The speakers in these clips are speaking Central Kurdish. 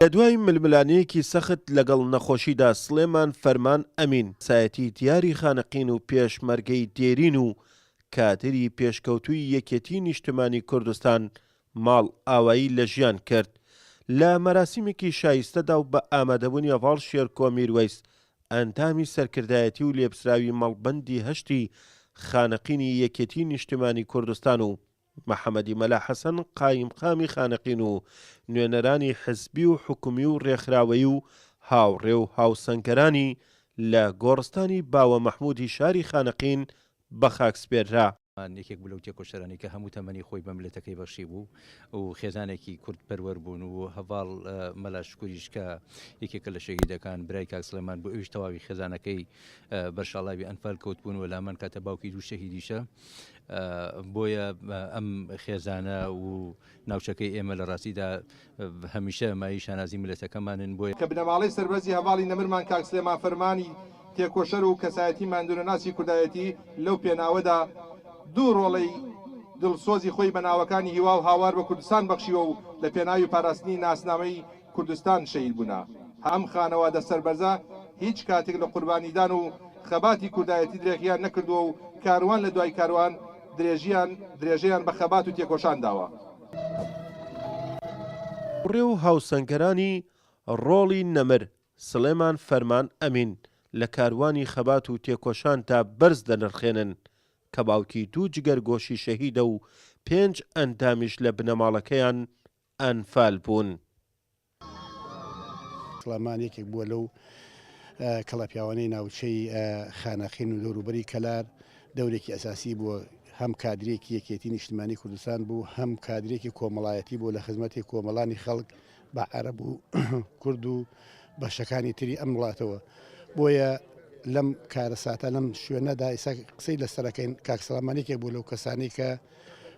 لە دوای ململانێیەکی سەخت لەگەڵ نەخۆشیدا سڵێمان فەرمان ئەمین سایەتی دیاری خانەقین و پێشمەرگەی دێرین و کادری پێشکەوتووی یەکێتی نیشتمانی کوردستان ماڵ ئاوایی لە ژیان کرد لە مەراسیمێکی شایستەدا و بە ئامادەبوونی هەڤاڵ شێرکۆ میروەیس ئەندامی سەرکردایەتی و لێپسراوی مەڵبەندی هەشتی خانەقینی یەکێتیی نیشتمانیی کوردستان و محەمەدی مەلا حەسەن قایمقامی خانەقین و نوێنەرانی حزبی و حکومی و رێکخراوەیی و هاوڕێ و هاوسەنگەرانی لە گۆڕستانی باوە مەحموودی شاری خانەقین بەخاکسپێررا. ئەوان یەکێک بوو لەو تێکۆشەرانەی کە هەموو تەمەنی خۆی بە مللەتەکەی بەخشیبوو و خێزانێکی کوردپەروەر بوون و هەڤاڵ مەلا شکوریش کە یەکێکە لە شەهیدەکان برای کاک سڵێمان بوو ئەویش تەواوی خێزانەکەی بەر شاڵاوی ئەنفال کەوتبوون و لامان کاتە باوکی دوو شەهیدیشە بۆیە ئەم خێزانە و ناوچەکەی ئێمە لە ڕاستیدا هەمیشە مایەی شانازی میللەتەکەمانن بۆ. کە بنەماڵەی سەربەرزی هەڤاڵی نەمرمان کاک سلێمان فەرمانی تێکۆشەر و کەسایەتی ماندوونەناسی کوردایەتی لەو پێناوەدا دوو ڕۆڵەی دڵسۆزی خۆی بە ناوەکانی هیوا و هاوار بە کوردستان بەخشیوە و لە پێناوی پاراستنی ناسنامەی کوردستان شەهید بوونە. ئەم خانەوادە سەربەرزە هیچ کاتێک لە قوربانیدان و خەباتی کوردایەتی درێغییان نەکردووە و کاروان لە دوای کاروان درێژییان درێژەیان بە خەبات و تێکۆشان داوە. بڕێ و هاوسەنگەرانی ڕۆڵی نەمر، سڵێمان فەرمان ئەمین، لە کاروانی خەبات و تێکۆشاندا بەرز دەنرخێنن، کە باوکی دوو جگەرگۆشی شەهیدە و پێنج ئەندامیش لە بنەماڵەکەیان ئەنفال بوون. سڵامان یەکێک بووە لەو کەڵەپیاوانەی ناوچەی خانەقین و دەوروبەری کەلار دەورێکی ئەساسی بووە هەم کادرێکی یەکێتی نیشتمانی کوردستان بوو هەم کادرێکی کۆمەڵایەتی بوو لە خزمەتی کۆمەڵانی خەڵک بە عەرە بوو کورد و بەشەکانی تری ئەم وڵاتەوە بۆیە لەم کارەساتە لەم شوێنەدا ئیسا قسەی لەسەرەکەین کاکسەلامانێکێک بوو لەو کەسانی کە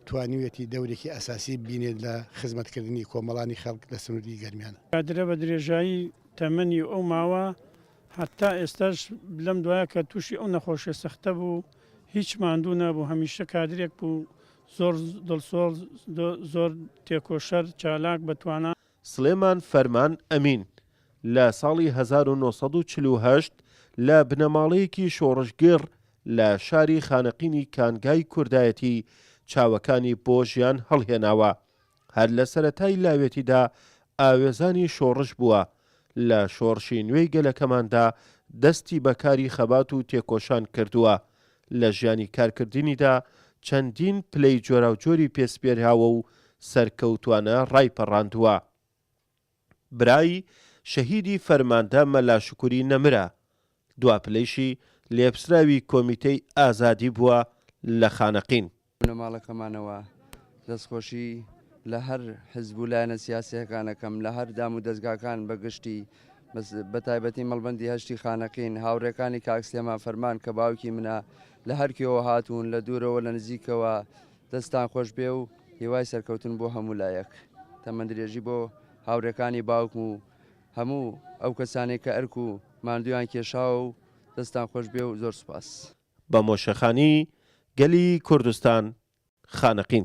توانیویەتی دەورێکی ئەساسی ببینێت لە خزمەتکردنی کۆمەڵانی خەڵک لە سنووری گەرمیان. کادرە بە درێژایی تەمەنی ئەو ماوە هەتا ئێستاش لەم دوایە کە تووشی ئەو نەخۆشیە سەختە بوو هیچ ماندوو نەبوو هەمیشە کادرێک بوو زۆر دڵسۆز زۆر تێکۆشەر چالاک بە توانا. سڵێمان فەرمان ئەمین لە ساڵی هەزار و نۆ سەد و چل و هەشت لە بنەماڵەیەکی شۆڕشگێڕ لە شاری خانەقینی کانگای کوردایەتی چاوەکانی بۆ ژیان هەڵهێناوە، هەر لە سەرەتای لاوێتیدا ئاوێزانی شۆڕش بووە، لە شۆڕشی نوێی گەلەکەماندا دەستی بە کاری خەبات و تێکۆشان کردووە، لە ژیانی کارکردنیدا چەندین پلەی جۆراوجۆری پێ سپێراوە و سەرکەوتوانە ڕایپەڕاندووە. برای شەهیدی فەرماندە مەلا شوکوری نەمرە، دوا پلەیشی لێپسراوی کۆمیتەی ئازادی بووە لە خانەقین. بنەماڵەکەمانەوە دەستخۆشی لە هەر حزب و لایەنە سیاسیەکان ئەکەم لە هەر دام و دەزگاکان بە گشتی بەس بە تایبەتی مەڵبەندی هەشتی خانەقین هاوڕێکانی کاک سلێمان فەرمان کە باوکی منە لە هەر کوێوە هاتوون لە دوورەوە لە نزیکەوە دەستتان خۆش بێ و هیوای سەرکەوتن بۆ هەموو لایەک. تەمەن درێژی بۆ هاوڕێکانی باوکم و هەموو ئەو کەسانەی کە ئەرک و ماندوویان کێشاوە و دەستتان خۆش بێ و زۆر سوپاس. بە مۆشەخانی گەلی کوردستان خانەقین.